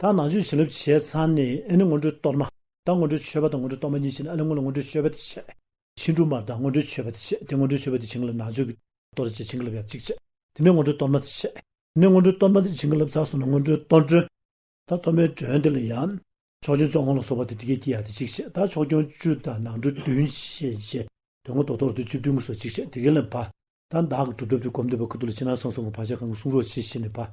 ད་ནང་ཆོས་བྱིན་རླབས་བྱས་ཚར་ནས་ཨེ་ནི་སྔོན་འགྲོའི་གཏོར་མ། ད་སྔོན་འགྲོའི་མཆོད་པ་དང་སྔོན་འགྲོའི་གཏོར་མ་གཉིས་བྱིན་ཨ་ལི་སྔོན་ལ་སྔོན་འགྲོའི་མཆོད་པ་དེ་བྱས། ཕྱིན་དྲུག་མར་ད་སྔོན་འགྲོའི་མཆོད་པ་དེ་བྱས་དེ་སྔོན་འགྲོའི་མཆོད་པ་དེ་བྱིན་རླབས་ནང་ཆོས་ཀྱི་གཏོར་བྱས་བྱིན་རླབས་ཡང་གཅིག་བྱས། དེ་ནས་སྔོན་འགྲོའི་གཏོར་མ་དེ་བྱས། དེ་ནས་སྔོན་འགྲོའི་གཏོར་མ་དེ་བྱིན་རླབས་ཚར་སོང་ན་སྔོན་འགྲོའི་གཏོར་མགྲོན། ད་གཏོར་མའི་མགྲོན་དེ་ལ་ཡང། ཕྱོགས་སྐྱོང་ཅོག་ཧོང་ལ་སོགས་པ་དེ་དེ་སྐད་ཀྱིས་ཡང་དེ་གཅིག་བྱས་ད་ཕྱོགས་སྐྱོང་བཅུ་དང་ནང་འགྲོ་བདུན་བྱས་རྗེས་དོན་ངོ་ཐོག་ཐོག་རྡུལ་བཅུ་བདུན་ངོ་སོགས་གཅིག་བྱས་དེ་ཀན་ལ་བབས། ད་བདག་གི་སྒྲུབ་ཐབས་དེ་སྒོམ་འདོད་པའི་ཁུར་དུ་ལ་ཕྱི་ནང་གསང་གསུམ་གྱི་བག་ཆགས་གང་གི་གསུང་རོགས་བྱས་ཤེས་ནས་བབས།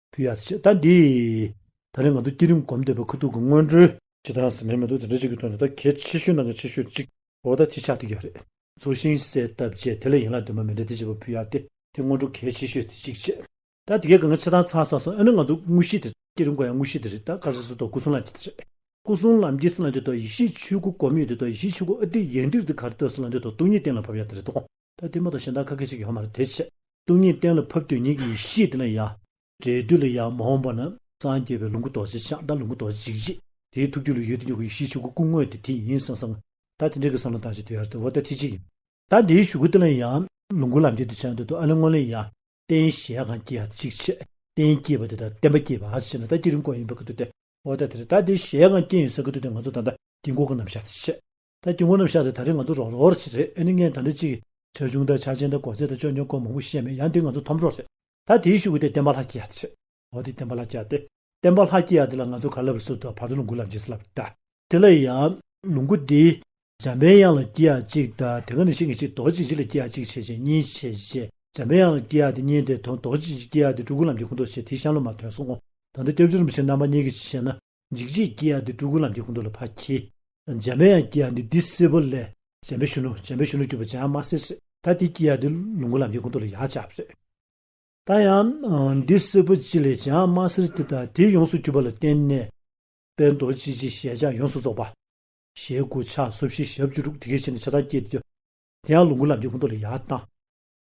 བུ་ཡག་བྱེད་ད་འདི། ད་རེས་ང་ཚོ་བསྐྱེད་རིམ་སྒོམ་འདོད་པའི་ཁུ་དུག་གི་སྔོན་འགྲོའི། ཇི་ལྟར་ཟེར་ནས་མེ་ཏོག་དེ་འདྲ་གཅིག་གི་ཐོག་ནས་ད་གལ་ཆེ་ཤོས་ནང་གི་ཆེ་ཤོས་གཅིག། འོ་ད་དེ་ཆགས་ཐུག་གི་རེད། ཚུར་ཤིང་གསལ་བཏབ་རྗེས་དེ་ལ་ཡན་ལག་འདོན་པ་མི་འདྲ་དེ་བྱེད་པ་བུ་ཡག་སྟེ་དེ་སྔོན་འགྲོ་གལ་ཆེ་ཤོས་དེ་གཅིག་བྱེད། ད་དེ་གས་གང་བྱེད་དང་ཚང་ས་སོང་ཨེ་ན་ང་ཚོ་དངོས་གཞི་དེ་བསྐྱེད་རིམ་སྒོ་ཡང་དངོས་གཞི་དེ་རེད་ད་དཀར་ཟས་སུ་གཏོགས་སྐུ་གསུང་ལམ་གྱི་དེ་རེད། སྐུ་གསུང་ལམ་གྱི་སྲིད་ལ་འདོད་དོ་ཡེ་ཤེས་ཆོས་སྐུ་སྒོམ་ཡོད་འདོད་དོ་ཡེ་ཤེས་ཆོས་སྐུ་ཨ་ཏི་ཡན་འདིར་འདི་གར་ལྟོས་སུ་ལ་འདོད་དོ་སྟོང་ཉིད་གཏན་ལ་ཕབ་ཡག་དེ་རེད་དོ། ད་ལྟའི་མོ་དང་གཞན་དག་ག་གེ་ཞིག་ཡོང་ན་རེ་དེ་བྱེད། སྟོང་ཉིད་གཏན་ལ་ཕབ་དུས་ཉིད་ཀྱི་ཡེ་ཤེས་དེ་ལ་ཡང། འབྲས་དུས་ལ་ཡང་མ་འོངས་པ་ན་སངས་རྒྱས་པའི་ལོངས་སྐུ་རྡོ་རྗེ་འཆང་བདག་ལོངས་སྐུ་རྡོ་རྗེ་འཇིགས་བྱེད་དེའི་ཐུགས་རྒྱུད་ལ་ཡོད་དུ་མྱོང་གི་ཡེ་ཤེས་ཆོས་སྐུ་སྐུ་དངོས་དེ་དེ་ཡིན་སང་སང། ད་དེ་འདྲའི་གི་སང་ལ་ད་བྱེད་དུས་ཡར་དུ་འོ་ད་དེ་བྱེད་ཡིན། ད་དེའི་ཞུ་སྐུ་དེ་ལ་ཡང། ལོངས་སྐུ་ལམ་བསྐྱེད་དུ་བྱ་འདོད་དུ་ཨ་ལས་སྔོན་ལས་ཡང། རྟེན་གཞན་གང་སྐྱེ་ཡང་གཅིག་བྱེད། རྟེན་སྐྱེས་པ་དེ་དང་བརྟེན་པ་སྐྱེས་པའང་བྱེད་ན་ད་སྐྱེ་རིམ་སྐོར་ཡིན་པར་གི་དུ་སྟེ། འོ་ད་དེ་རེད་ད་དེ་གཞན་གང་སྐྱེ་ཡིན་སང་གི་དུས་དེ་ང་ཚོ་ད་ལྟ་དཀྱིལ་འཁོར་གི་རྣམ་གཞག་དེ་བྱེད། ད་སྐྱེ་དངོས་རྣམས་ཤ་རེད་ད་རེས་ང་ཚོ་རོགས་རོགས་རེད་ཨེ་ནི་ངས་ད་འདི་ཅིག་ཆ་ཆུང་དང་ཆ་ཆེན་དང་གོ་ཚད་དང་ཅོ་ཉོ་སྐོར་མང་པོ་ཤེས་མེད་ཡང་འདི་ང་ཚོ་ཐོམ་རོགས་རེད་ད་དེའི་ཤུགས་ཀྱིས་དེ་བསྟན་པ་ལྷ་སྐྱིད་ཡག་འདི་བྱེད་འོ་དེ་བསྟན་པ་ལྷ་སྐྱིད་ཡག་སྟེ་བསྟན་པ་ལྷ་སྐྱིད་ཡག་འདི་ལ་ང་ཚོ་ག་ལ་བའི་སྲོལ་དུ་བར་དོ་ལུང་ཁུག་ལབ་རྗེས་སུ་ལབ་ད། དེ་ལ་ཡང་ལུང་ཁུག་འདི། འཇམ་པའི་དབྱངས་ལ་སྐྱིད་ཡག་ཅིག་ད་དེ་ག་ནས་ཤིག་ངེད་ཅིག་རྡོ་རྗེ་འཇིགས་ལ་སྐྱིད་ཡག་ཅིག་བྱེད་ཅེས་གཉིས་བྱེད་བྱས་འཇམ་པའི་དབྱངས་ལ་སྐྱིད་ཡག་འདི་གཉིས་དེ་དོན་རྡོ་རྗེ་འཇིགས་སྐྱིད་ཡག་འདི་སྤྲུལ་སྐུ་རྣམས་ཀྱི་སྐུ་མདོག་བྱས་དེའི་ཤམ་ལོ་མ་དོན་སོང་ང་ད་འདི་སྐྱབས་རྗེ་རིན་པོ་ཆེ་རྣམ་པ་གཉིས་ཀྱི་ཕྱི་ཤལ་ན། འཇིགས་བྱེད་ཀྱིས་ཡང་འདི་སྤྲུལ་སྐུ་ལམ་གྱི་སྐུ་མདོ་ལ་ཕར་འཁྱིལ། འཇམ་དཔལ་ཡང་ཀྱིས་ཡང་འདི་འདི་སྲིད་པོ་ལས། འཇམ་པའི་གཞོན་ནུ་འཇམ་པའི་གཞོན་ནུ་གྱུར་པ་ཅང་མ་ཟེར་ཟེར། ད་དེ་ཀྱིས་ཡང་འདི་ལོངས་སྐུ་ལམ་གྱི་སྐུ་མདོ་ལ་ཡང་བཅར་བ་ཟེར། ད་ཡང། འདི་སྲིད་པོ་ཅི་ལས་ཅང་མ་ཟེར་དེ་ལྟར་དེ་ཡོངས་སུ་གྱུར་པ་ལ་བརྟེན་ནས། དཔལ་རྡོ་རྗེ་ཅི་ཞེས་ཀྱང་ཡོངས་སུ་རྫོགས་པ། ཞེས་སྐུ་ཕྱག་སོར་བཞི་ཞབས་བཅུ་དྲུག་དེ་སྐད་བྱས་ནས་ཆ་ཚང་བསྐྱེད་དེ། དེ་ཡང་ལོངས་སྐུ་ལམ་གྱི་སྐུ་མདོ་ལ་ཡང་བཏང།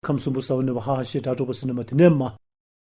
ཁམས་གསུམ་པོ་ས་བོན་ནོན་པ་ཧ་ཧ་ཞེས་སྒྲ་སྒྲོགས་པ་སྲིད་ན་མ་དེ་ནས་མ།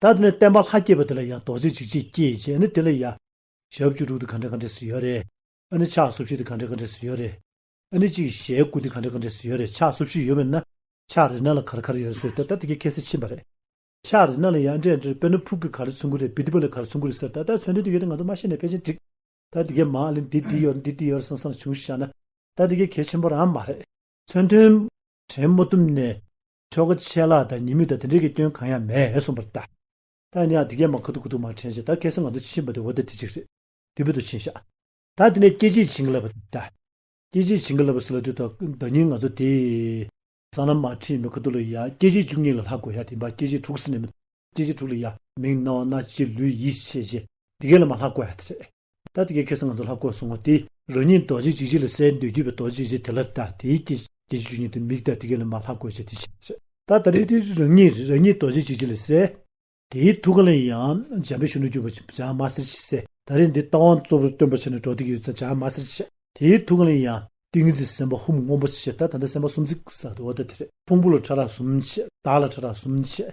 ད་དེ་ནས་བསྟན་པ་ལྷ་བསྐྱེད་པ་དེ་ལ་ཡང་རྡོ་རྗེ་འཇིགས་བྱེད་བསྐྱེད་ཅེས་ནི་དེ་ལ་ཡང། ཞག་བཅུ་དྲུག་དེ་གང་འདྲ་གང་འདྲས་སུ་ཡོད་རེད། ཨ་ནི་ཕྱག་སོ་བཞི་དེ་གང་འདྲ་གང་འདྲས་སུ་ཡོད་རེད། ཨ་ནི་གཅིག་གིས་ཞལ་དགུ་དེ་གང་འདྲ་གང་འདྲས་སུ་ཡོད་རེད་ཕྱག་སོ་བཞི་ཡོད་མེད་ན། ཕྱག་རི་ནག་ལ་གར་གར་ཡོད་རེད་ཟེར་ཏེ་ད་དེ་གའི་ཁྱད་གསད་ཕྱིན་པ་རེད། ཕྱག་རི་ནག་ལ་ཡང་འདྲེ་འདྲེར་དཔེར་ན་ཕུག་གི་གར་ལ་ཚུར་འགུགས་རེད་བི་ཏི་པ་ལ་གར་ཚུར་འགུགས་རེད་ཟེར་ད་ལྟ་མཚོན་དོན་དེ་ཡོད་དེ་ང་ཚོ་མ་ཤེས་ནས་ཕལ་ཆེར་འགྲིག། ད་དེ་གའི་མ་ལས་འདི་འདི་ཡོད་འདི་འདི་ཡོད་སང་སང་ལ་བྱུང་ཤག་ན། ད་དེ་གའི་གལ་ཆེན་པོ་རང་མ་རེད། མཚོན་དོན། དྲན་མོ་གཏུམ་ནས། ཁྱོ་ག་ཆད་ལ་ད་ཉིན་མི་ད་དེ་འདྲེ་གི་སྐྱོན་གང་ཡང་མེད་གསུངས་པར་བལྟ། ད་ནི་ཨ་དེ་གས་མ་ཁ་ཐུག་ཁུ་ཐུག་མ་དྲན་ཞེས་ད་གས་སེ་ང་ཚོ་ཕྱིན་པ་དེ་འོ་ད་དེ་གཅིག་རེད་དེ་བོད་དུ་ཕྱིན་བཞག། ད་དེ་ནས་སྐྱེ་འཆི་བྱིན་གི་ལབ་པ་དེ་བལྟ། སྐྱེ་འཆི་བྱིན་གི་ལབ་པ་སེ་ལ་དུས་ད་ད་ཉིན་ང་ཚོ་དེ། ས་ན་མ་ཁྲིད་མི་ཁ་ཐུག་ལ་ཡ་སྐྱེ་འཆི་བཅུ་གཉིས་ལ་ལྷག་དགོས་ཡ་དེ་འབའ་སྐྱེ་འཆི་དྲུག་སེ་ནས་མི་ད་སྐྱེ་འཆི་དྲུག་ལ་ཡ་མིང་རྣ་བ་སྣ་ལྕེ་ལུས་ཡིད་ཆེས་བྱེད་དེ་གས་ལ་མ་ལྷག་དགོས་ཡ་དེ་རེད། ད་ལྟ་ཀྱི་ཁྱེད་སང་ང་ཚོ་ལྷ་བཀོད་སོང་བ་དེ། རང་ཉིད་རྡོ་རྗེ་འཇིགས་བྱེད་ལ་གསལ་འདོད་རྒྱུ་བའི་རྡོ་རྗེ་བཞི་དེ་ལ་ད་དེའི་ཀྱི་དེ་བཞི་ཉིད་དུ་མིག་ད་དེ་ཀའི་ལ་མ་ལྷ་བཀོད་བྱས་དེ་བཞི་བྱས། ད་ད་རེ་དེ་རང་ཉིད་རང་ཉིད་རྡོ་རྗེ་འཇིགས་བྱེད་ལ་གསལ། དེའི་ཐུགས་ཀ་ལ་ཡང་འཇམ་པའི་གཞོན་ནུ་རྒྱུ་བ་བྱང་མ་སེར་བྱེད་གསལ། ད་རེ་འདི་རྟ་དབང་གཙོ་བོར་སྟོན་པར་བྱས་ནས་གྲོགས་ཏིག་གི་ཡོད་ཚད་བྱང་མ་སེར་བྱེད། དེའི་ཐུགས་ཀ་ལ་ཡང་ཏིང་ངེ་འཛིན་སེམས་དཔའ་ཧཱུྃ་སྔོན་པོ་བྱེད་ད་ད་ལྟ་སེམས་དཔའ་སུམ་བརྩེགས་ཟ་དོ་ད་དེ་རེད་ཕུང་པོ་ལ་ཕྲ་རགས་གསུམ་བྱེད་བདག་ལ་ཕྲ་རགས་གསུམ་བྱེད།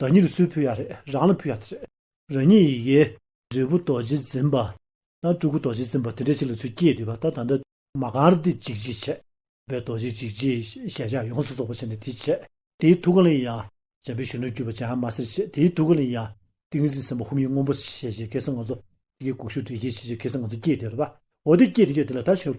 བདག་ཉིད་ལ་སུས་ཕུལ་ཡག་རེད་རང་ལ་ཕུལ་ཡག་དེ་རེད། རང་ཉིད་ཡི་གེ། འབྲས་བུ་རྡོ་རྗེ་འཛིན་པ། དང་སྤྲུལ་སྐུ་རྡོ་རྗེ་འཛིན་པ་དེ་འདྲ་ཞིག་ལ་ཚུར་སྐྱེས་འདུས་པ་ད་ད་འདི། མ་གང་རུ་དེ་འཇིགས་བྱེད་ཆད། པའི་རྡོ་རྗེ་འཇིགས་བྱེད་ཞལ་ཕྱག་ཡོངས་སུ་རྫོགས་པར་བྱས་ནས་དེའི་ཆད། དེའི་ཐུགས་ཀ་ལ་ཡང། བྱམས་པའི་གཞོན་ནུར་གྱུར་པ་བྱམས་མ་སེར་བྱེད་དེའི་ཐུགས་ཀ་ལ་ཡང། ཏིང་ངེ་འཛིན་སེམས་དཔའ་ཧཱུྃ་ཡིག་སྔོན་པོ་ཞེས་བྱའི་སྐད་གསང་ང་ཚོ། ཡི་གེ་དགུག་གཞུག་འདྲེན་བྱེད་ཞེས་བྱའི་སྐད་གསང་ང་ཚོ་སྐྱེས་འདུས་པ། འོ་དེ་སྐྱེས་དེ་སྐྱེས་དེ་ལ་ད་ཆོས།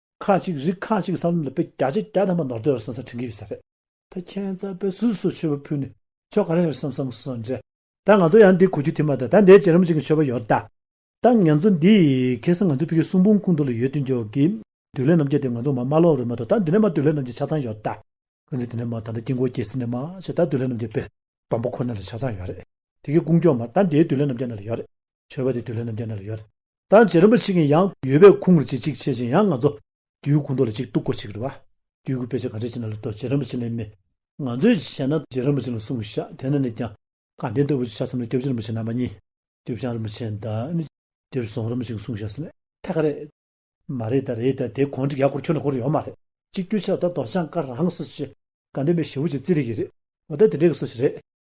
ཁག་གཅིག་རིགས་ཁག་གཅིག་གི་ས་ལམ་ལ་བོད་རྒྱ་རྗེ་རྒྱ་དམ་པ་ནོར་འདོད་རེད་བསམ་ས་དྲན་གྱི་ཡོད་ས་རེད། ད་ཁྱེད་རྩ་དཔེ་སུས་སུ་ཆོས་པ་ཕུལ་ནས་ཆོས་ག་རེ་རེད་བསམ་བསམ་སོང་རྗེས། ད་ང་ཚོ་ཡང་འདི་གོ་རྒྱུ་དེ་མ་ཏོག་ད་འདའི་རྗེ་རིན་པོ་ཆེ་གི་ཆོས་པ་ཡོད་ད། ད་ངན་ཚོ་འདི་ཁེ་སང་ང་ཚོ་ཕི་གི་གསུང་འབུམ་ཁུང་དུ་ལ་ཡོད་དུས་འཇོག་གི། དུས་ལས་རྣམ་རྒྱལ་དེ་ང་ཚོ་མ་མ་ལོག་རེད་མ་ཏོག་ད་འདི་ནས་མ་དུས་ལས་རྣམ་རྒྱལ་ཆ་ཚང་ཡོད་ད། ཀུན་གཟིགས་དེ་ནས་མ་ད་འདའ་དཀྱིལ་འཁོར་རྒྱལ་སྲིད་ནས་མ་བྱས་ད་དུས་ལས་རྣམ་རྒྱལ་དཔལ། སྦོམ་པོ་ཁོ་ནས་ལ་ཆ་ཚང་ཡོད་རེད། དེ་གི་སྐུ་མགྱོགས་མ་ད་འདའི་དུས་ལས་རྣམ་རྒྱལ་ནས་ལ་ཡོད་རེད། ཆོས་པ་དེ་དུས་ལྷ་རྣམས་ཀྱི་སྣ་ལ་ཡོད། ད་བྱས་རིན་པོ་ཆེ་གིས་ཡང་ཡོད་པའི་ཁུངས་རེ་ཅིག་ཅིག་བཤད་ཅིང་ཡང་ང་ཚོ། དུས་ཀུན་རྡོ་ལ་ཅིག་གཏུག་གོ་ཅིག་རེད་བ། དུས་ཀུན་དཔེ་ཆ་ག་རེ་བྱས་ན་ལ་དོ་བྱས་རིན་པོ་ཆེ་ལས་མེད། ང་ཚོས་བྱས་ན་བྱས་རིན་པོ་ཆེ་ལ་གསུང་གི་ཤག་དེ་ན་ནས་ཀྱང། གང་དེ་ལྟ་བུ་ཅིག་ཆ་གསུམ་ལ་སྐྱབས་རྗེ་རིན་པོ་ཆེ་རྣམ་པ་གཉིས། སྐྱབས་བྱང་རིན་པོ་ཆེ་ད་ནི། སྐྱབས་སོང་རིན་པོ་ཆེ་གི་གསུང་ཤག་ཟེར་ན་ཐད་ཀ་རེད། མ་རེད་ད་རེད་ད་དེ་གོང་གྲིག་ཡག་སྐོར་ཁྱོད་ལ་གོ་རེ་ཡོད་མ་རེད། གཅིག་གྱུར་ཆགས་ད་རྡོ་བྱང་དཀར་རང་གི་སོ་ཞེས། དགའ་ལྡན་པའི་ཞེ་བོ་ཅིག་བརྩི་རེ་གི་རེད། འོ་ད་དེ་འདྲའི་གི་སོ་ཞིག་རེད།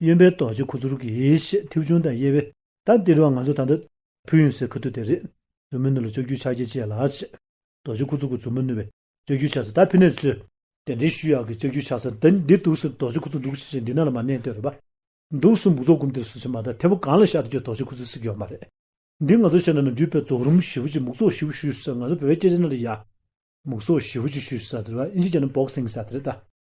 གཡོན་པའི་རྡོ་རྗེ་ཁུ་ཚུར་གྱི་ཞེས་མཐེའུ་ཆུང་དང་དབྱེ་བས་དང་སྟེ་རུ་བ་ང་ཚོ་ད་ལྟ། ཕུ་ཡུན་སའི་ཁུ་ཐུ་དེ་རེད། མཛུབ་མོ་བསྣོལ་ལ་ལྕགས་ཀྱུའི་ཕྱག་རྒྱ་བཅས་ལ། རྡོ་རྗེ་ཁུ་ཚུར་གྱི་མཛུབ་མོ་བསྣོལ་བས་ལྕགས་ཀྱུའི་ཕྱག་སོ་དར་འཕེན་ནས་ཚུད། དེ་འདྲའི་ཤུལ་ཡག་གི་ལྕགས་ཀྱུའི་ཕྱག་སོ་འདི་འདི་འདུག་ཟེར་རྡོ་རྗེ་ཁུ་ཚུར་འདུག་ཤེས་བྱའི་འདི་ན་ལ་མ་གནས་ལྟོས་རེད་པ། འདུག་སུ་འབུག་རྫོགས་སྒོམ་དེར་སུ་བྱེད་མ་ཐག་མཐེ་བོ་གང་ལ་ཤར་དུ་ཀྱང་རྡོ་རྗེ་ཁུ་ཚུར་གཟིགས་ཡོད་མ་རེད། འདི་ང་ཚོ་ཤེས་ན་ནམ་རྒྱུན་དཔལ་རྫོགས་རིམ་བཞི་བོ་ཅིག་འབུག་རྫོགས་བཞི་བོ་ཞུས་ཟེར་ང་ཚོ་བོད་སྐད་ཆ་ནང་ལ་ཡ། འབུག་རྫོགས་བཞི་བོ་ཅིག་ཞུས་ཟེར་བ་དེ་ལ་ཨིན་ཇི་བྱས་ན་བོགས་སེང་ཟེར་བ་དེ་རེད་ད།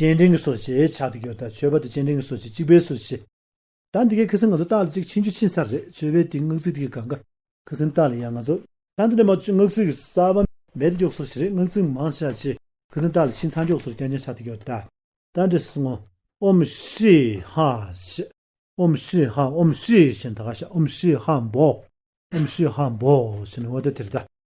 སྤྱན་འདྲེན་གྱི་སོ་ཞེས་བྱ་སྟེ་གྱོད་དང་མཆོད་པ་དང་སྤྱན་འདྲེན་གྱི་སོ་ཞེས་གཅིག་པའི་སོ་ཞེས། ད་འདི་གའི་ཁི་སིང་ང་ཚོ་རྟགས་ལ་ཅིག་ཕྱིན་ཆུ་ཕྱིན་ས་རེད་བྱོས་པས་དེའི་སྔགས་ཚིག་དེ་གི་གང་ག། ཁི་སིང་རྟགས་ལ་ཡང་ང་ཚོ། ད་འདི་ནས་མ་བཅོས་སྔགས་ཚིག་གི་ས་བ། མེད་དུ་འཇོག་སོ་ཞེས་རེད་སྔགས་ཚིག་མང་བྱ་ཞེས། ཁི་སིང་རྟགས་ལ་ཕྱིན་ཚར་འཇོག་སོར་ཀྱང་ཀྱང་བྱ་སྟེ་གྱོད་ད། ད་འདི་སིང་ངོ། ཨོམ་ཧྲི་ཧ་ཞེས། ཨོམ་ཧྲི་ཧ་ཨོམ་ཧྲི་ཞེས་ད་ག་ཞག་ཨོམ་ཧྲི་ཧ་འབོ། ཨོམ་ཧྲི་ཧ་འབོ་ཞེས་ནི་འོ་ད་དེ་རེད་ད།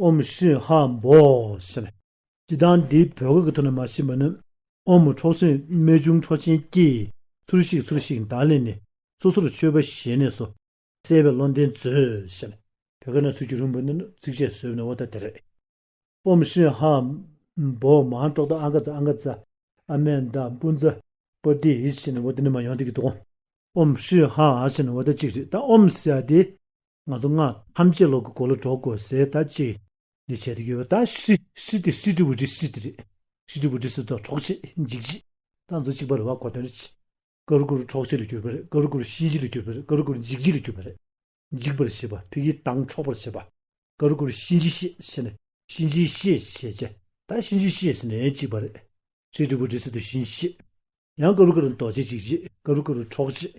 ཨོམ་ཧྲི་ཧ་འབོ་ཞེས་པ། སྤྱི་སྟངས་འདི་བོད་སྐད་ཀྱི་ཐོག་ནས་མ་ཤེས་པ་ནི། ཨོམ་མོ་འཕྲོག་སྲིན་རྨད་བྱུང་འཕྲོག་ཆེན་སྐྱེས། ཚུར་གཤེགས་ཚུར་གཤེགས་མདངས་ལེན་ནས། སོ་སོར་ཆོས་པ་ཞལ་ནས་སོ། གསལ་བའི་བློ་ལྡན་མཛོད་ཞེས་པ། བོད་སྐད་ན་ཚུར་གྱི་རིང་བོ་ནི་ནི་ཚིགས་བཅད་ཟོས་པ་ནི་བོ་ད་དེ་རེད། ཨོམ་ཧྲི་ཧ་འབོ་མང་འཕྲོག་ད་ཨ་མཁའ་ཛ་ཨ་མཁའ་ཛ། ཨ་མའི་མདའ་སྤུན་ཛ། པོ་ཏི་ཧི་ཞེས་ནི་བོ་ད་ནི་མ་ཡོང་ཏེ་གི་འདུག་གོ། ཨོམ་ཧྲི་ཧ་ཨ་ཞེས་ནི་བོ་ད་གཅིག་རེད་ད་ཨོམ་སྲི་ཨ་དེ། ང་ཚོ་སྔགས་ཐམས་ཅད་ལོག་གི་གོ་ལ་སྒྲོག་དགོས་ཟེར་ད་ཅི། འདི་བྱས་ཏེ་ཡོད་ད་ཧྲི་ཧྲི་དེ་ཧྲི་ཀྲི་བུ་ཀྲི་ཧྲི་དེ་རེད། ཧྲི་ཀྲི་བུ་ཀྲི་ཟེར་དོག་གྲོགས་ཆེ་འཇིགས་བྱེད། ད་ཚོ་གཅིག་པ་རེད་བ་གོ་དོན་རེད་ཅི། ཀ་རུ་ཀུ་རུ་གྲོགས་ཆེ་ལ་གྱུར་པ་རེད་ཀ་རུ་ཀུ་རུ་གཤིན་རྗེ་ལ་གྱུར་པ་རེད་ཀ་རུ་ཀུ་རུ་འཇིགས་བྱེད་ལ་གྱུར་པ་རེད། འཇིགས་པར་བྱེད་པ་ཕི་གིའི་དང་འཕྲོག་པར་བྱེད་པ། ཀ་རུ་ཀུ་རུ་གཤིན་རྗེ་གཤེད་བྱེད་ནས་གཤིན་རྗེའི་གཤེད་བྱེད་ཅེ་ད་གཤིན་རྗེའི་གཤེད་ཟེར་ནས་གཅིག་པ་རེད། ཧྲི་ཀྲི་བུ་ཀྲི་ཟེར་དུ་གཤིན་གཤེད། ཡང་ཀ་རུ་ཀུ་རུ་འདོགས་བྱེད་འཇིགས་བྱེད་ཀ་རུ་ཀུ་རུ་གྲོགས་བྱེད།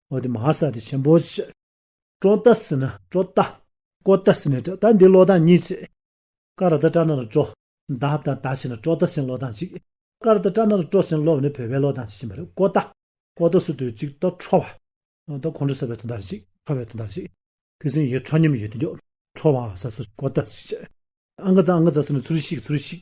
འོ་དེ་མ་ཧཱ་སཱ་ཏི་ཆེན་པོ་ཆེ། ཀྲོ་ཏ་སི་ནི་ཀྲོ་ཏ། ཀོ་ཏ་སི་ནི་ཀྲོ་ཏ་འདི་ལོ་ཐང་གཉིས་ཆེ། ཀ་ར་ཏ་ཀྲ་ན་ར་ཀྲོ། འདབ་དང་ད་ཆེ་ནི་ཀྲོ་ཏ་སིན་ལོ་ཐང་གཅིག། ཀ་ར་ཏ་ཀྲ་ན་ར་ཀྲོ་སིན་ལོབ་ནི་བོད་པའི་ལོ་ཐང་གཅིག་ཡིན་པ་རེད་ཀོ་ཏ། ཀོ་ཏ་སི་ཏུ་གཅིག་ཏོ་ཁྲོ་བ། ཏོ་ཁོང་ཁྲོ་ཟེར་བའི་དོན་དག་རེད་གཅིག་ཁྲོ་བའི་དོན་དག་རེད་གཅིག། ཁི་སིན་ཡེ་ཁྲོ་སྙེ་མི་ཡོད་དེ་མགྱོགས། ཁྲོ་བ་ཧཱ་སཱ་སི་ཀོ་ཏ་སི་ཆེ། ཨ་མག་ཙ་ཨ་མག་ཙ་སི་ནི་ཚུར་ཤིག་ཚུར་ཤིག།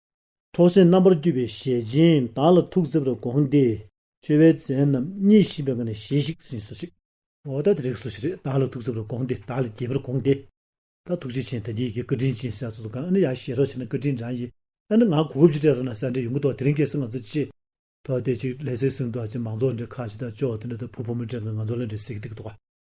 ཐོག་སེར་རྣམ་པར་བསྐྱོད་པའི་ཞལ་སྦྱིན་བདག་ལ་ཐུགས་བརྩེ་བར་དགོངས་ཏེ། མཆོད་པའི་རྫས་རྣམས་གཉིས་བཞིན་པའི་སྔགས་ནས་ཞལ་ཞིག་ཟིན་སོ་ཞིག། འོ་ད་རིགས་སོ་ཞེས་རིགས་བདག་ལ་ཐུགས་བརྩེ་བར་དགོངས་ཏེ་བདག་ལ་དགྱེས་པར་དགོངས་ཏེ། ད་ཐུགས་རྗེ་ཆེན་དག་དགྱེས་ཀྱི་བཀའ་དྲིན་ཅན་སྲས་ཚོགས་གང་ན་ཡང་ཞེས་རོགས་བྱས་ན་བཀའ་དྲིན་དྲངས་ཡིན། ཨ་ནི་ང་གོ་བུ་བཞི་གྲས་ར་ན་ས་འདྲེ་ཡོང་གི་དོག་དེ་རིང་གེ་སར་ང་ཚོ་ཅི། ཐོག་དེ་ཅིག་ལྷས་སེ་སིང་དུ་ཨ་ཅེ་མང་ཚོགས་འདྲེ་ཁ་ཅིག་དང་ཅོག་དེ་འདྲ་དང་བུ་ཕོ་མོ་འདྲེ་འགའ་ང་ཚོ་ལ་འདྲེ་སེ་གི་ཏིག་ཏོག།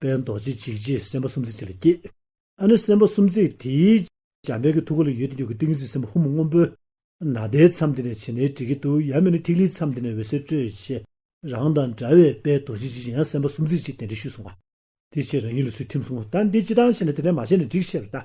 དཔལ་རྡོ་རྗེ་འཇིགས་བྱེད་སེམས་དཔའ་སུམ་བརྩེགས་ཆེ་ལ་སྐྱེས། ཨ་ནུ་སེམས་དཔའ་སུམ་བརྩེགས་དེའི། འཇམ་དཔལ་གྱི་ཐུགས་ཀ་ལ་ཡོད་དེ་རྒྱུ་གུ་ཏིང་འཛིན་སེམས་དཔའ་ཧུ་མུ་སྔོན་པོའི། ནཱ་དའི་མཚམས་དེ་ནས་བྱེ་ནའི་དྲི་གི་དུག་ཡབ་མེ་ནི་ཐིག་ལེའི་མཚམས་དེ་ནས་འོད་ཟེར་སྤྲོས་བཅས། རང་དང་འདྲ་བའི་དཔལ་རྡོ་རྗེ་འཇིགས་བྱེད་སེམས་དཔའ་སུམ་བརྩེགས་ཀྱིས་དེ་འདྲ་ཞུས་གསུངས་པ། དེ་ཕྱིར་རང་ཉིད་ལ་ཚུལ་ཁྲིམས་གསུངས། ད་འདི་ཅི་དང་ཞེ་ན་དེ་འདྲ་མ་བྱས་ན་འགྲིག་ཤེས་པར་བལྟ།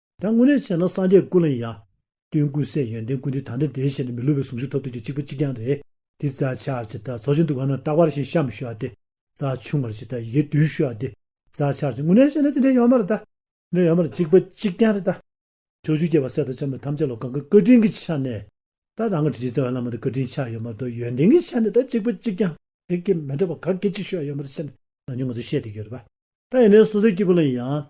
ད་དངོས་གནས་བཤད་ན་སངས་རྒྱས་ཀུན་ལ་ཡང་ཡང། སྟོན་ཀུན་གསལ་ཡོན་ཏན་ཀུན་འདི་ད་ལྟ་དེའི་ཞལ་ནས་མི་ལུས་པའི་ཟུངས་ཤིག་ཐོབ་ཐུབ་ཀྱི་གཅིག་པ་གཅིག་རྐྱང་རེད། དེ་རྩ་ཆག་ཇི་ལྟར་ཚོགས་ཆེན་དུ་གང་ན་སྐྲག་པར་ཞིག་བཤམ་ཞུ་བ་སྟེ། རྩ་ཆུང་བར་ཇི་ལྟར་ཡི་གེའི་དུས་ཞུ་བ་སྟེ། རྩ་ཆག་ཅིག་དངོས་གནས་བཤད་ན་དེ་འདྲའི་ཡོད་མ་རེད་ད། འདྲའི་ཡོད་མ་རེད་གཅིག་པ་གཅིག་རྐྱང་རེད་ད། ཕྱོགས་བཅུའི་སྐྱེ་བ་སྲས་དང་ལྕམ་དྲལ་ཐམས་ཅད་ལ་གང་གི་བཀའ་དྲིན་གྱི་ཆ་ནས། ད་རང་གི་དྲིན་ཅན་རྩ་བའི་བླ་མ་དང་བཀའ་དྲིན་ཆགས་ཡོད་མ་གཏོགས་ཡོན་ཏན་གྱི་ཆ་ནས་ད་གཅིག་པ་གཅིག་རྐྱང། དེ་སྐད་མི་འདྲ་བ་ག་གེ་གཅིག་ཞུ་བ་ཡོད་མ་རེད་བཤད་ན། ནང་ཆོས་ང་ཚོས་བཤད་དེ་ཡོད་རེད་པ། ད་ཡིན་ནའི་སོ་སོའི་སྐྱེ་བོ་ལ་ཡང།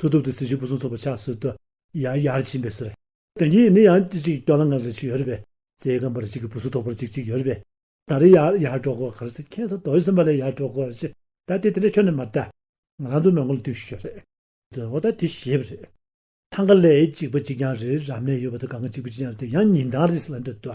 ཐུགས་སྟོབས་དེ་སྲིད་ཕྱིར་བུ་ཟུང་ཚོགས་པ་ཕྱག་སྲོལ་དུ། ཡང་ཡར་ཕྱིན་པའི་སྲོལ། དེ་གཉིས་ནི་ཡང་ཅིག་སྐྱོ་ལ་ངར་རེ་ཅིག་ཡོད་རེ་བས། རྩེའི་སྒམ་པར་ཅིག་གིས་བུ་ཟུང་དོག་པར་ཅིག་ཅིག་ཡོད་རེ་བས། ད་རེ་ཡར་ཡར་འགྲོ་དགོས་གལ་སྲིད་ཁྱེད་ཚོ་དོག་ཡོད་སེམས་པ་ལས་ཡར་འགྲོ་དགོས་ཤེས། ད་དེ་དེ་འདྲ་ཁྱོད་ནས་མ་བལྟ། ང་རང་ཚོའི་མོས་མགོ་ལ་དུས་ཤིག་ཤོས་རེད། དོན་དངོས་ད་དེ་ཞེས་པ་རེད། ཐང་ག་ལས་གཅིག་པ་གཅིག་རྐྱང་རེ་རབ་གནས་ཡོད་པ་དང་ག་ངའི་གཅིག་པུ་གཅིག་རྐྱང་རེ་དེ་ཡང་ཉིན་དང་རིས་ལ་འདོད་དོ།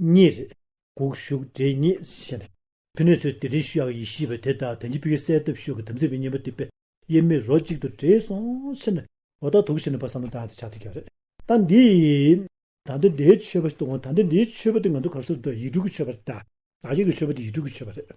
གཉིས་རེད། དགུག་གཞུག་འདྲེ་གཉིས་ཞེས་པ། ཕི་ནས་ཚོས་དེ་འདྲའི་ཤུ་ཡག་ཡིན་ཤེས་པ་དེ་དག་དོན་གྱི་ཕི་གི་གསལ་བཏབ་ཤུ་གི་དམ་ཚིག་པའི་གཉེན་པོ་དེ་པས་དབྱེར་མེད་རོ་གཅིག་ཏུ་འདྲེས་སོང་ཕྱིར་ན། ལོ་རྟགས་དུག་ཞིག་ནི་པར་བསམ་བློ་དག་དེ་ཆགས་ཐུབ་ཀྱི་རེད། ད་འདི། ད་འདི་འདྲའི་ཆོས་པ་ཞིག་ཏུ་འོང་ད་འདི་འདྲའི་ཆོས་པ་དེ་ང་ཚོ་གར་སོང་དུ་ཡིག་དྲུག་གི་ཆོས་པ་རེད་ད། ད་ཡིག་གི་ཆོས་པ་དེ་ཡིག་དྲུག་གི་ཆོས་པ་རེད།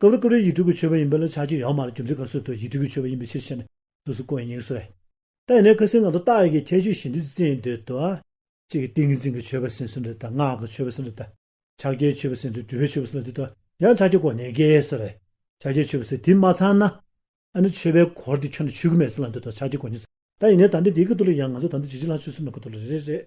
ཀུ་རེ་ཀུ་རེ་ཡིག་འབྲུ་གུ་ཆོད་པ་ཡིན་པས་ལ་ཆགས་ཀྱི་ཡང་མ་རེད་རྒྱུ་མཚན་ག་སོ་དོ་ཡིག་འབྲུ་གུ་ཆོད་པ་ཡིན་པའི་ཕྱིར་ཤེས་ནས་སོ་སོ་ཀོ་ཡིན་ཉེག་སོ་རེད། ད་ཡིན་ནའི་ཁ་སིང་ང་ཚོ་རྟགས་ཡི་གེའི་ཁྱད་ཆོས་བཞིན་དུ་བརྩི་ཡི་འདོད་དོ། གཅིག་གིས་ཏིང་ངེ་འཛིན་གྱི་ཆོད་པ་སིང་སོ་འདོད་དོ་ངག་གི་ཆོད་པ་སིང་འདོད་དོ། ཕྱག་རྒྱའི་ཆོད་པ་སིང་འདོད་སྒྲུབ་པའི་ཆོད་པ་སིང་ལ་འདོད་དོ་ཡང་ཆགས་ཀྱི་ཀོ་ཉེ་གེ་སོ་རེད། ཕྱག་རྒྱའི་ཆོད་པ་སིང་དེ་མ་ཚང་ན། ཨ་ནི་ཆོད་པའི་གོར་དེ་ཁྱོད་ནས་ཆུད་ཀི་མེད་སིང་ལ་འདོད་དོ་ཆགས་ཀྱི་ཀོ་ཉེ་སོ། ད་ཡིན་ནའི་ད་འདི་འདི་གི་དུ་ལ་ཡང་ང་ཚོ་ད་འདི་ཇི་ཇི་ལ་ཆུད་སིང་མི་གོ་དུ་ལ་རེ་རེ་རེད།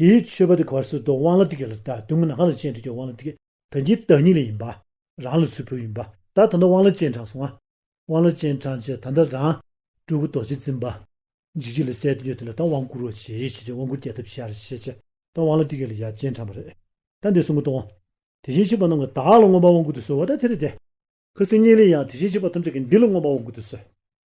དེའི་མཆོད་པ་དེ་གར་སོ་དོ་དབང་ལ་ཏིག་ལ་ཏདུ་མི་ནག་ལ་སྤྱན་འདྲེན་གྱི་དབང་ལ་ཏིག་དོན་གྱི་བདག་ཉིད་ལ་ཡིན་པ། རང་ལ་ཚུལ་ཕུལ་ཡིན་པ་དག་ད་ལྟ་དབང་ལ་སྤྱན་དྲངས་སོང་ང། དབང་ལ་སྤྱན་དྲངས་རྗེས་ད་ལྟ་རང། སྤྲུལ་སྐུ་རྡོ་རྗེ་འཛིན་པ། འཇིགས་བྱེད་ལ་གསལ་དུ་ཡོད་དེ་ལ་ད་དབང་བསྐུར་རོ་ཞེས་བྱས་རྗེས་དབང་བསྐུར་རྒྱས་གདབ་བྱས་ར་ཞེས་བྱས་ད་དབང་ལ་ཏིག་ལ་ཡབ་སྤྱན་དྲངས་པ་རེད། ད་འདི་གསུང་གི་དོན། དེ་བཞིན་གཤེགས་པ་རྣམས་ཀྱི་དག་ལ་མངོན་པར་དབང་བསྐུར་དུ་གསོལ་བ་ད་དེ་རེད་དེ། ཁྱོད་སེམས་གཉིས་ལས་ཡང་དེ་བཞིན་གཤེགས་པ་ཐམས་ཅད་ཀྱི་འདི་ལ་མངོན་པར་དབང་བསྐུར་དུ་གསོལ།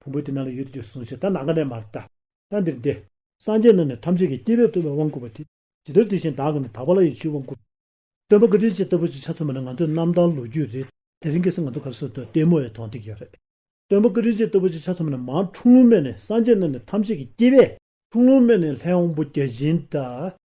ཕུང་པོ་དེ་ནང་ལ་ཡོད་དོ་ཅོག་གསུངས་ཤིག་ད་ནང་ག་ནས་མར་བལྟ། ལྟ་འདིར་འདི། སངས་རྒྱས་རྣམས་ནི་ཐམས་ཅད་ཀྱི་སྐྱེ་བས་བཏུལ་བའི་དབང་བསྐུར་བ་དེ། ཇི་ལྟར་དེ་བཞིན་བདག་གིས་ནི་དག་པ་ལ་ཡི་ཆུས་དབང་བསྐུར། སྟོན་པ་ཀིརྟི་སྤྱི་ལྟ་བུ་ཅིག་ཆ་མཚོན་པ་ནི་ང་ཚོའི་གནམ་ཐང་ལོ་རྒྱུས་རེད། དེ་རིང་གི་སེམས་ང་ཚོ་གར་སོན་དུ་ལྟད་མོ་བའི་དོང་སྟེགས་ཡོད་རེད། སྟོན་པ་ཀིརྟི་སྤྱི་ལྟ་བུ་ཅིག་ཆ་མཚོན་པ་ནི་མར་འཁྲུངས་ལུང་སྨད་ནས་སངས་རྒྱས་རྣམས་ནི་ཐམས་ཅད་ཀྱི་སྐྱེ་བས། འཁྲུངས་ལུང་སྨད་ནས་ལྷའི་དབང་པོ་བརྒྱ་བྱིན་དང།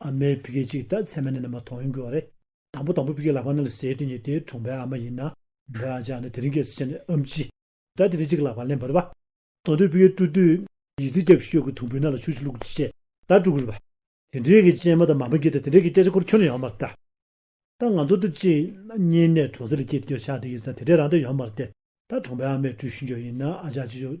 ཨ་མའི་བུ་སྐད་ཅིག་ད་ཚད་མ་ནས་ན་མ་ཐོང་ཡོང་གི་བ་རེད། དང་པོ་དང་པོ་བུ་སྐད་ལག་པ་ན་ལ་ཟེར་དུས་ཉིད་དེའི་གྲོང་པའི་ཨ་མ་ཡིན་ན། བུ་ཨ་ཅག་ནི་དེ་རིང་སྐད་ཚིག་ཆ་ནས་ཨམ་ཅི། ད་དེ་རིང་གཅིག་ལག་པ་ལེན་བར་བ། དང་དོད་བུ་སྐད་བཀྲུ་དུས། ཡིད་ཚིག་སྐྱ་བུས་ཤོད་གི་དུང་བུའི་ནང་ལ་ཆུ་ཆུ་བླུག་གི་ཅེས་ད་བཀྲུ་གི་རུ་བ། དེ་འདྲའི་གི་སྤྱན་མ་དང་མ་མ་གིས་ད་དེ་འདྲའི་གི་སྐད་ཆ་སྐོར་ཁྱོད་ལ་ཡོང་མར་ལྟ། ད་ང་ཚོ་འདི་གཅིག་གཉིས་ནས་གྲོང་ཚོ་ལ་སྐྱེལ་དུས་ཁྱོད་ཆགས་དེ་ཡིན་ཙང་དེ་འདྲའི་རང་དོན་ཡོང་མར་ལྟས། ད་གྲོང་པའི་ཨ་མས་བཀྲུས་ཤིང་ཀྱོ་ཡིན་ན་ཨ་ཅག་ཅི་ཡོད།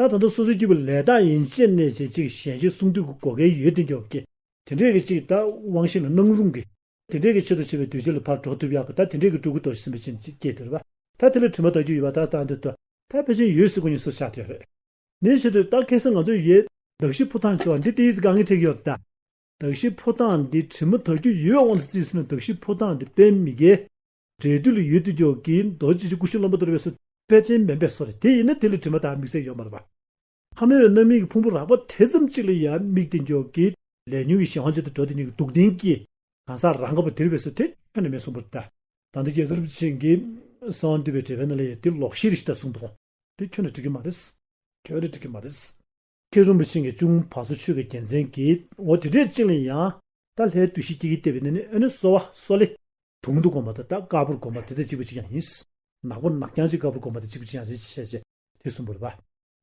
ད་དང་ཐོག་སོ་སོའི་སྐྱེས་བུ་ལས་དག་ཡིན་ཅེས་གནས་བྱེད་གཅིག་གཞན་གཅིག་གསུང་དུས་ཀྱི་གོ་སྐལ་ཡོད་དུས་འཇོག་གི། དེ་འདྲས་ཀྱི་གཅིག་ད་དབང་ཤེས་ལ་སྣང་རུང་གི། དེ་འདྲས་ཀྱི་ཆེད་དུ་བྱས་པའི་དུས་ཕྱི་ལ་ཕར་འགྲོ་ཐུབ་ཡག་གི་ད་དེ་འདྲས་ཀྱི་སྤྲུལ་སྐུ་དོར་ཟིན་པ་ཅན་གཅིག་སྐྱེས་དུས་རེད་པ། ད་དེ་ལ་དྲི་མ་དག་རྒྱུ་ཡོད་པ་ད་ལྟ་འདི་ལྟ། ད་ཕལ་ཆེར་ཡོད་སྲིད་གོ་ཉིས་སུ་ཆགས་དུས་རེད། འདི་ཆེད་དུ་ད་གལ་སྲིད་ང་ཚོའི་ཡོད། གདགས་གཞི་ཕོ་ཐང་ཁྱོ་འདི་དེ་ཡིས་དགའ་ངེས་ཁྲེགས་ཡོད་ད། གདགས་གཞི་ཕོ་ཐང་འདི་དྲི་མ་དག་རྒྱུ་ཡོད་དབང་དུ་བརྩིས་སོང་ན་གདགས་གཞི་ཕོ་ཐང་འདི་དཔེ་མི་དགེ། འབྲས་རྡུལ་ལ་ཡོད་དུ་འཇོག་གིས་རྡོ་རྗེ་ཆེན་སྐུ་གཤེན་ལོ་མ་དོར་བས་སོ། དཔལ་ཆེན་སྨན་པས་སོ། དེ་ཡིན་ན་དེ་ལས་དྲི་མ་དང་མིག་སེར་ཡོད་མ་རུང་བ། ཕ་མེས་པའི་རྣམ་སྨིན་གྱི་ཕུང་པོ་རགས་པ་དེ་ཙམ་གཅིག་ལ་ཡང་དམིགས་ཏེ་འཇོག་གིས། ལས་ཉོན་གྱི་གཞན་དབང་ཆེད་དུ་འགྲོ་དེ་ཉིད་ཀྱི་སྡུག་བདེན་གྱིས། གང་ཟག་རང་ག་བ་དེར་བས་སོ་དེ་ཁྱོད་ནི་མེད་གསུངས་པར་ཐལ། དང་དུ་སྐྱེས་ཚོར་བུ་ཆེན་གྱིས། གསང་འདུས་པའི་དྲི་བའི་རྣམ་ལས་ཡོད་དེ་ལོག་ཤེས་རིག་ཞི་དང་གསུངས་པའོ། དེ་ཁྱོད་ནི་འགྲིག་གི་མ་རེད། ཁྱོད་ནི་འགྲིག་གི་མ་རེད། ཁྱེད་རིན་པོ་ཆེ་ངས་ཅུང་བག་ཚོ་ཆོད་ཀྱི་རྒྱལ་མཚན་གྱིས་འོ་དེ་འདྲས་བཅིངས་ལ་ཡང། ད་ལྷའི་བདུད་བཞི་སྐྱེ་གི་ལྟེ་བའི་གནས་ནི་ཨོ་ནི་གསོ་བ་གསོ་ལེ། དུང་དུ་བསྒོམ་པ་དང་ད་དཀར་པོར་བསྒོམ་པ་དེ་དང་གཅིག་པ་གཅིག་ཀྱང་ཡིན། ནག་པོ་ནག་རྐྱང་གཅིག་དཀར་པོར་བསྒོམ་པ་དང་གཅིག་པ་གཅིག་ཀྱང་རེད་ཅེས་བཤད། དེ་གསུམ་པོར་བ།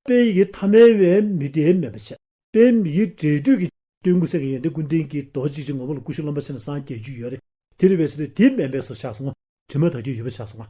དཔེ་ཡི་གེ་ཐ་མལ་བས་མི་དེའི་མེད་པར་བྱེད། དཔེ་མི་ཡི་འབྲས་དུས་ཀྱི། སྟོན་ཀུན་སེལ་གྱི་ཡོན་ཏན་ཀུན་ལྡན་གྱི་རྡོ་རྗེ་ཅན་ངོ་བོ་ལ་ཀུ་ཤུ་རློན་པ་ཆེན་ལ་སངས་རྒྱས་རྒྱུད་ཡོད་རེད། དེར་བས་སོ་ལེ་དེའི་མན་པས་སོ་ཆགས་སོང་ངོ། དྲི་མ་དག་རྒྱུ་ཡོད་པར་ཆགས་སོང་ངོ།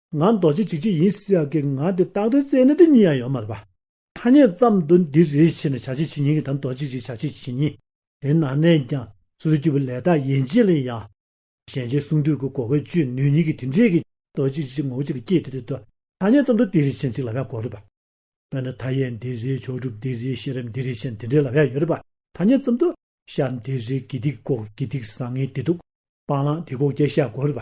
ང་རྡོ་རྗེ་འཇིགས་བྱེད་ཡིན་ཟེར་ཡག་གི་ང་དེ་རྟགས་དོན་བཙལ་ན་འདི་གཉིས་ཡང་ཡོད་མ་རེད་པ། ཐ་སྙད་ཙམ་དུ་འདི་རེ་བྱས་ནས་བྱ་བྱེད་བྱེད་ཉིད་ཀྱི་དང་རྡོ་རྗེ་འཇིགས་བྱ་བྱེད་བྱེད་ཉིད། དེ་ན་ནས་ཀྱང་སོ་སོའི་སྐྱེས་བུ་ལས་དག་ཡན་ཆད་ལ་ཡང། གཞན་ཆའི་གསུང་དུས་ཀྱི་གོ་བས་བཅོས་ནུས་ཉིད་ཀྱི་དེ་འབྲེལ་གྱི། རྡོ་རྗེ་འཇིགས་བྱེད་ངོ་བོ་གཅིག་ལ་སྐྱེས་དེ་རེ་དོ། ཐ་སྙད་ཙམ་དུ་འདི་རེ་བྱས་ན་གཅིག་ལ་བས་གོ་རེད་པ། དཔེར་ན་མཐའ་ཡས་འདི་རེ་མཆོག་གྲུབ་འདི་རེ་ཤེས་རབ་འདི་རེ་བྱས་ན་དེ་འབྲེལ་ལ་བས་ཡོད་རེད་པ། ཐ་སྙད་ཙམ་དུ། ཤར་འདི་རེ་དགེ་སྡིག་ལྐོག་དགེ་སྡིག་བཟང་ངན་བདེ་སྡུག། སྤང་བླང་དེ་ལྐོག་རྒྱལ་བཤད་གོ་རེད་པ།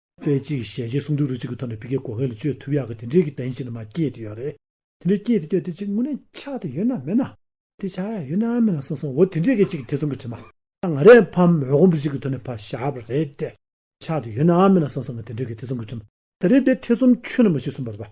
ཚེ་གཅིག་ཞལ་ལྕེ་གསུམ་དྲུག་རེ་གཅིག་གི་ཐོག་ནས་བི་ཀའི་གོ་ཁའི་ལ་སྤྱོད་ཐུབ་ཡག་གི་དེ་འདྲའི་གི་དོན་ཅི་ནས་མ་སྐྱེས་ཏེ་ཡོད་རེད། དེ་འདྲའི་སྐྱེས་ཏེ་སྐྱོ་དེ་ཅིག་དངོས་གནས་ཆགས་ཏེ་ཡོད་ན་མེད་ན། དེ་ཆགས་ཡག་ཡོད་ན་མེད་ན་སོང་སོང་འོ་དེ་འདྲའི་གི་ཅིག་དེ་ཚོ་གི་དྲི་མ། ང་རས་ཕམ་འོད་སྒོམ་པོ་ཅིག་གི་ཐོག་ནས་ཕ་བཞག་པ་རེད་དེ། ཆགས་ཏེ་ཡོད་ན་མེད་ན་སོང་སོང་འོ་དེ་འདྲའི་གི་དེ་ཚོ་གི་དྲི་མ། ད་རེས་དེ་ཐེ་ཚོམ་ཆུད་ན་མ་ཞིག་གསུངས་པ་རེད་པ།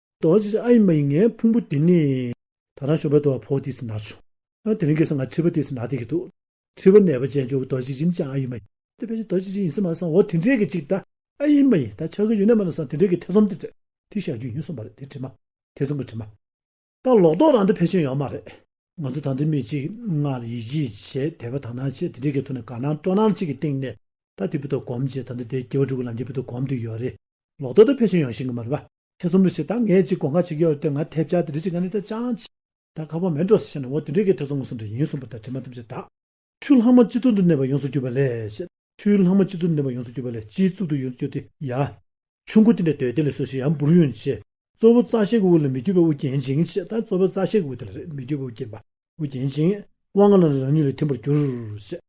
རྡོ་རྗེ་ཨ་ཡི་མ་ཡི་ངའི་ཕུང་པོ་འདི་ནི། ད་རང་ཞོགས་པའི་རྡོ་བ་ཕོ་དེས་ན་བྱུང། དེ་རིང་གི་སང་ང་ཁྲི་པ་དེས་ན་དེ་གི་འདུག། ཁྲི་པ་ནད་པ་ཅན་འཇོག་གི་རྡོ་རྗེ་སྦྱིན་ཅིང་ཨ་ཡི་མ་ཡི། དེ་བས་ཅི་རྡོ་རྗེ་སྦྱིན་ཡིན་སྲིད་མ་སང་འོ་དེ་འདྲའི་གི་ཅིག་ད། ཨ་ཡི་མ་ཡི་ད་ཆ་གི་ཡུན་ནས་མ་ན་སང་དེ་འདྲའི་གི་ཐེ་ཚོམ་དེ་འདྲ། དེ་བཞག་རྒྱུ་ཡིན་སོང་པ་རེད་དེ་དྲི་མ། ཐེ་ཚོམ་གི་དྲི་མ། ད་ལོག་རྡོག་རང་འདི་ཕལ་ཆེར་ཡོང་མ་རེད། ང་ཚོ་ད་འདི་མི་གཅིག་ང་ལ་ཡིད་ཆེས་བྱེད་དད་པ་དང་སྣང་བྱེད་དེ་འདྲའི་གི་ཐུག་ནས་དགའ་སྣང་སྤྲོ་སྣང་གཅིག་གི་སྟེང་ནས། ད་དེ་བུ་དོ་སྒོམ་བྱེད་ད་འདི་དེ་སྐྱེ་བ་དྲུག་གི་ལམ་གྱི་བུ་དོ་སྒོམ་དུ་ཡོད་རེད། ལོག་རྡོག་ད་ཕལ་ཆེར་ཡོང་ཤེས་གི་མ་རེད་པ། ཁྱེད་ཚོ་མི་ཞིག་དང་ངས་ཅིག་དགོངས་ཁ་བྱེད་ཀྱི་ཡོད་དེ་ང་ཐེབས་ཆག་དེ་རིགས་ཅིག་ང་ནི་ད་ཅང་ཆེ། ད་ཁ་བ་མེད་འགྲོ་ཟེར་བཤད་ན་འོ་དེ་འདྲའི་གི་ཐེ་ཚོམ་ངོ་སོང་འདྲ་ཡིན་གསུངས་པ་ལྟར་དྲི་མ་ཐམས་ཅད་དག། ཆུ་ལྷག་མ་སྤྱི་གཙུག་ཏུ་གནས་པ་ཡོངས་སུ་གྱུར་པ་ལས། ཆུའི་ལྷག་མ་སྤྱི་གཙུག་ཏུ་གནས་པ་ཡོངས་སུ་གྱུར་པ་ལས་སྤྱིའི་གཙུག་ཏུ་ཡོངས་སུ་གྱུར་ཏེ་ཡ། ཆུ་མགོ་དེ་འདྲའི་དོད་དེ་ལས་སོ་ཞེས་ཡང་འབུར་ཡོང་ཆེ། གཙོ་བོ་རྩ་ཤེས་ཀྱི་དབུ་ལ་མི་འགྱུར་བའི་དབུ་བརྒྱན་ཅིང་ཞེས་དང་གཙོ་བོ་རྩ་ཤེས་ཀྱི་དབུ་དེ་ལ་རེ་མི་འགྱུར་བའི་དབུ་བརྒྱན་པ། དབུ་བརྒྱན་ཅིང་དབང་ལྔ་ལ་ལ་རང་ཉིད་ལ་ཐིམ་པར་གྱུར། ཞེས།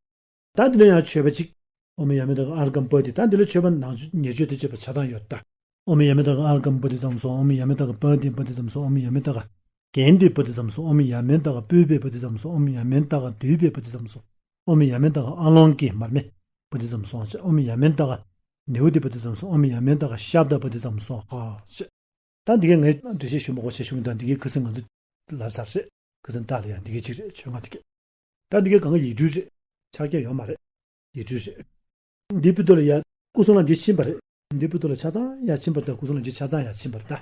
ད་འདི་ལོ་ཡང་ཆོས་པ་ཅིག། ཨོ་མི་ཡ་མི་དང་ཨར་སྒམ་པོ་དེ་ད་འདི་ལོ་ཆོས་པ་ནང་ཉེ་ཆོས་དེ་ཆོས་པ་ཆ་ཚང་ཡོད་ད། ཨོ་མི་ཡ་མི་དང་ཨར་སྒམ་པོ་དེ་ཙམ་སོང་ཨོ་མི་ཡ་མི་དང་པོ་དེ་པོ་དེ་ཙམ་སོང་ཨོ་མི་ཡ་མི་དང། གན་དེ་པོ་དེ་ཙམ་སོང་ཨོ་མི་ཡ་མི་དང་པུས་པའི་པོ་དེ་ཙམ་སོང་ཨོ་མི་ཡ་མི་དང་དུས་པའི་པོ་དེ་ཙམ་སོང་ཨོ་མི་ཡ་མི་དང་ཨ་ལོང་ཀི་མར་མེ་པོ་དེ་ཙམ་སོང་ཨོ་མི་ཡ་མི་དང། ནེའུ་དེ་པོ་དེ་ཙམ་སོང་ཨོ་མི་ཡ་མི་དང་ཤ་བདག་པོ་དེ་ཙམ་སོང་ཧཧཧ། ད་འདི་གའི་ངའི་འགྲེལ་བཤད་ཞུ་མགོ་བྱེད་བྱུང་ད་འདི་གའི་ཁུ་སིམ་ང་ཚོ་ལབ་ཚར་རེད་ཁུ་སིམ་ད་ལོ་ཡང་འདི་གའི་ཅིག་རེད་ཆོས་ང་འདི་གའི། ད་འདི་གའི་གང་གི་ཡིག་འབྲུ་རེད། ཕྱག་རྒྱ་ཡོད་མ་རེད། ཡིག་འབྲུ་རེད། འདི་སྤུ་རྡོ་ལ་ཡ། སྐུ་སྲུང་ལ་འདི་ཕྱིན་པ་རེད། འདི་སྤུ་རྡོ་ལ་ཆ་ཚང་ཡ་ཕྱིན་པར་གདའ་སྐུ་སྲུང་ལ་འདི་ཆ་ཚང་ཡ་ཕྱིན་པར་གདའ།